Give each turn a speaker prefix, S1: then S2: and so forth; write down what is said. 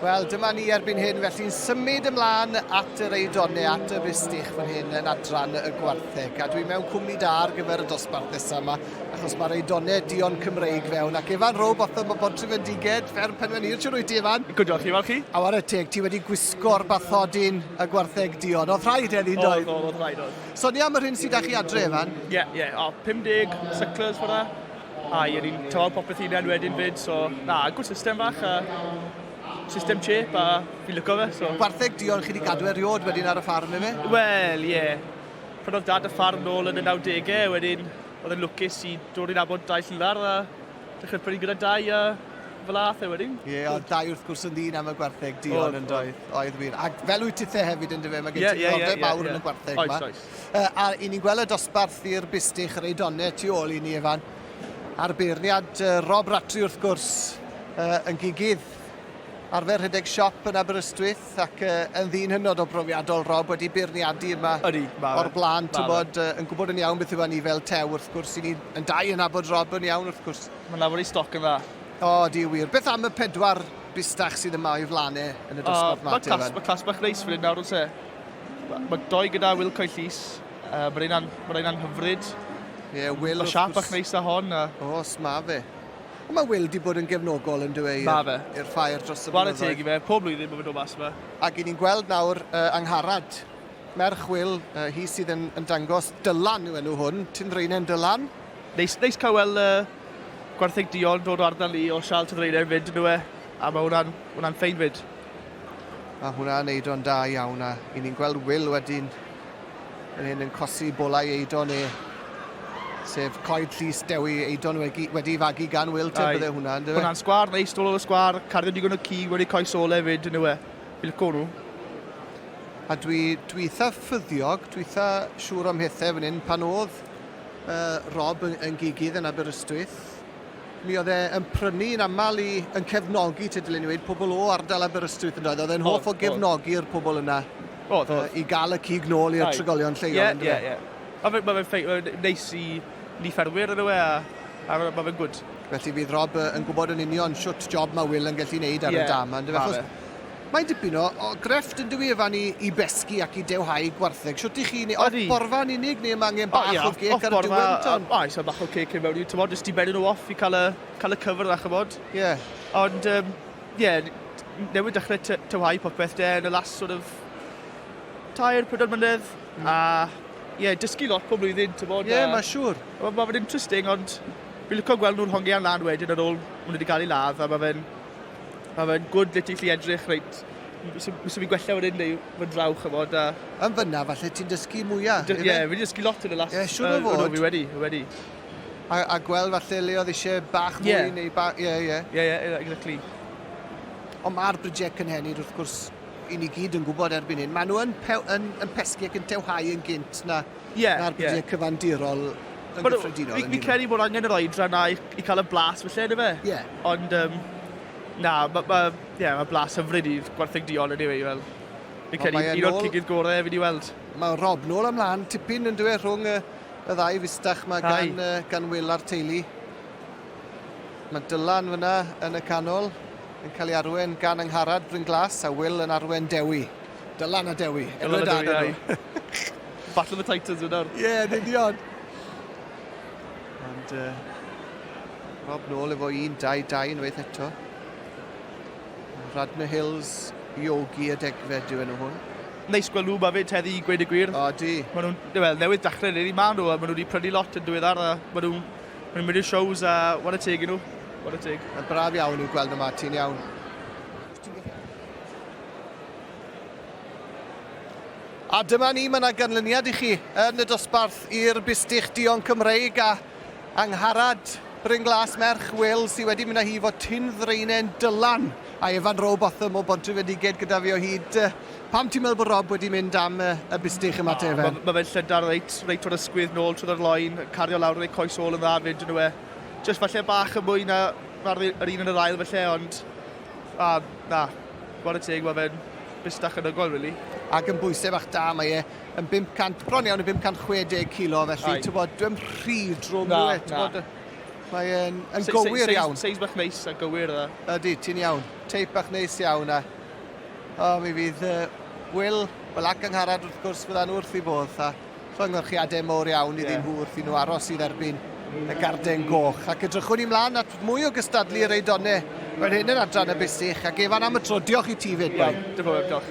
S1: Wel, dyma ni erbyn hyn, felly'n symud ymlaen at yr eidon neu at y fistich fan hyn yn adran y gwartheg. A dwi mewn cwmni da ar gyfer y dosbarth nesaf yma, achos mae'r eidonau dion Cymreig fewn. Ac Evan Rob, oedd yma bod trefendiged, fer penwen i'r siwr wyt ti, Evan? Good diolch chi, fel chi? A war
S2: y teg, ti wedi
S1: gwisgo'r bathodyn y gwartheg dion. Oedd rhaid eddi, doedd? Oedd, oedd, oedd rhaid, oedd. Sonia
S2: am yr hyn sydd â chi
S1: adre, Evan? Ie, yeah,
S2: ie. Yeah. O, 50 cyclers fyna. A i ni'n talu popeth hunain wedyn 'fyd, so na, good system fach a system chip a fi'n licio fe, so. Gwartheg diolch chi 'di gadw
S1: e riod wedyn ar y ffarm efe? Wel, ie.
S2: Prynodd Dad y ffarm nôl yn y nawdege, wedyn oedd e'n lwcus i dod i nabod dau llilar a dechrau prynu gyda dau a fel ath e wedyn. Ie, oedd dau wrth gwrs
S1: yn ddyn am y gwartheg duon yndoedd? Oedd wir. Ac fel wyt tithe hefyd yndyfe, mae gen ti ddiddordeb mawr yn y gwartheg 'ma. Yy, a 'yn
S2: ni'n gweld
S1: y dosbarth i'r bistych, yr eidone tu ôl i ni, Ifan, a'r beirniad yy Rob Rattray wrth gwrs, yy yn gigydd arfer rhedeg siop yn Aberystwyth ac yy yn ddyn hynod o brofiadol, Rob, wedi beirniadu yma... Ydi, ma' fe. ...o'r bla'n, t'bod, yy yn gwbod yn iawn beth yw hynny fel tew wrth gwrs, 'yn ni yn dau yn nabod Rob yn iawn wrth gwrs. Ma'n lawer i stoc yn dda.
S2: O, ydi, wir.
S1: Beth am y pedwar bistach sydd yma o'i flan e yn y dosbarth 'ma te, Ifan? Yy, ma' clas- ma' clas bach neis fan 'yn
S2: nawr, o's e? Mae doi gyda Wilco i llys. Uh, Mae rhain ma anghyfryd. Ie, yeah, Will... Mae
S1: siap ac neis da hon.
S2: A... Os, mae fe.
S1: Ond mae Will di bod yn gefnogol yn dweud i'r ffair dros y blynyddoedd. Gwared teg i fe, pob blwyddyn
S2: mae fe'n dod mas yma. Ac i ni'n gweld nawr
S1: uh, angharad merch Will, uh, hi sydd yn, yn dangos Dylan yw enw hwn, Tyn Reinen Dylan. Neis, neis cael
S2: wel, uh, gwartheg Dion dod o ardal ni o Sial Tyn Reinen fyd yn dweud, a mae hwnna'n hwnna ffein fyd. Mae
S1: hwnna yn eido'n da iawn a i ni'n gweld Will wedyn yn hyn yn cosi bolau eidon e. Sef coed llus dewi eidon wedi, wedi fagu gan Will te bydde hwnna yn dywe. Hwnna'n sgwar neis dol
S2: o'r sgwar, cardyn digon o cig wedi coes ôl hefyd yn yw e. Bilco nhw.
S1: A dwi, dwi eitha ffyddiog, dwi eitha siŵr o'm hethau fan hyn pan oedd uh, Rob yn, yn gigydd yn Aberystwyth. Mi oedd e yn prynu yn aml i yn cefnogi te dylen ni wedi pobl o ardal Aberystwyth yn doedd. Oedd e'n hoff o gefnogi'r pobl yna. Oedd, oedd. I gael y cig nôl i'r trigolion lleol. Ie, ie, ie.
S2: Mae fe'n ma fe ma neis i ni ffermwyr yn yw e, a, a mae fe'n gwyd. Felly fydd Rob
S1: yn gwybod yn union siwt job mae Will yn gallu neud ar y dam. Ie, mae fe. Mae dipyn o, o grefft yn dywi fan i, i besgi ac i dewhau gwartheg. Siwt i chi, neu off borfa yn unig, neu mae angen bach o, o gec ar y diwedd ton? O, eisiau bach o cec yn
S2: mewn i, ti'n bod, jyst i bennu nhw off i cael y, cael y cyfr yna, chymod? Ie. Yeah. Ond, ie, um, yeah, newid dechrau tywhau popeth de yn y last sort of tair, pedwar mynedd, mm. a ie, yeah, dysgu lot pob blwyddyn, ti'n bod? Ie, yeah, mae siŵr. Mae ma
S1: fe'n interesting,
S2: ond fi'n lyco gweld nhw'n hongian lan wedyn ar ôl maen nhw wedi cael ei ladd, a mae fe'n Mae fe'n gwd lle ti'n gallu edrych reit, so, so fi'n gwella fan hyn neu fan draw, chymod, a... Yn fyna, falle
S1: ti'n dysgu mwyaf. Ie, yeah, fi wedi dysgu lot yn
S2: y last... Ie, yeah, siwr o fod. Uh, no, fi
S1: wedi, fi wedi.
S2: A, a
S1: gweld falle le oedd eisiau bach mwy yeah. neu bach... Ie, yeah, ie. Yeah. Ie, yeah, ie, yeah, exactly. Ond mae'r brydau cynhenid, wrth gwrs, i ni gyd yn gwybod erbyn hyn, maen nhw yn, pe, yn, yn pesgu ac yn tewhau yn gynt na yeah, na'r byddiau yeah. cyfandirol yn But, gyffredinol. Fi, fi credu bod angen yr
S2: oedra na i, i cael y blas felly, ydy fe? Ie. Yeah. Ond, um, na, mae ma, yeah, ma blas hyfryd i gwartheg diol ydy fe, i fel. Fi credu un o'r cigydd gorau fi wedi weld. Mae Rob nôl
S1: ymlaen, tipyn yn dweud rhwng y, y ddau fistach mae gan, uh, gan Will a'r teulu. Mae Dylan fyna yn y canol yn cael ei arwen gan Angharad Bryn Glas a Will yn arwen Dewi. Dylan a Dewi. Dylan a Dewi, ai.
S2: Battle of the Titans yn nawr. Ie, yn union.
S1: Ond, uh, Rob nôl efo 1-2-2 yn weith eto. Radna Hills, Iogi a Degfed yw enw hwn. Neis gweld nhw yma
S2: fyd heddi i gweud y gwir. O, di. Mae nhw'n,
S1: well, newydd dachrau
S2: neu ni ma nhw, a mae nhw wedi prynu lot yn diweddar, a mae nhw'n ma nhw mynd i'r shows a wan y teg i nhw. Wan y teg. A braf
S1: iawn i'w gweld nhw ma, ti'n iawn. A dyma ni, mae yna ganlyniad i chi yn y dosbarth i'r bistych duon Cymreig a Angharad Bryn Glas, merch Wil, sydd wedi mynd â hi fo Tyn Ddraenen Dylan a Evan Roe Botham o Bontrefedigaid gyda fi o hyd. Pam ti'n meddwl bod Rob wedi mynd am y bistych yma te, Evan? Mae fe'n llydar reit,
S2: reit o'r ysgwydd nôl trwy'r loen, cario lawr yn ei coes ôl yn dda fyd yn yw e. Just falle bach yn mwy na yr un yn yr ail falle, ond... A, na. Ware teg, mae fe'n bustach yn ygol, rili. Ac yn bwysau bach
S1: da, mae e yn 500, bron iawn yn 560 kilo, felly, ti'n bod, dwi'n rhy drwm na, e, ti'n bod, mae e'n yn gywir iawn. Seis bach neis a gywir
S2: yna. Ydy, ti'n iawn.
S1: Teip bach neis iawn a... O, mi fydd uh, Will, wel ac angharad wrth gwrs, fydda'n wrth i bodd. A... Llongyfarchiadau mawr iawn iddyn nhw wrth i nhw aros i dderbyn y Garden Goch, ac edrychwn i mlan at mwy o gystadlu yr Eidonau fel hyn yn adran y Bussych, a gefan am y tro, diolch i ti 'fyd boi. Iawn, diolch yn fawr, diolch.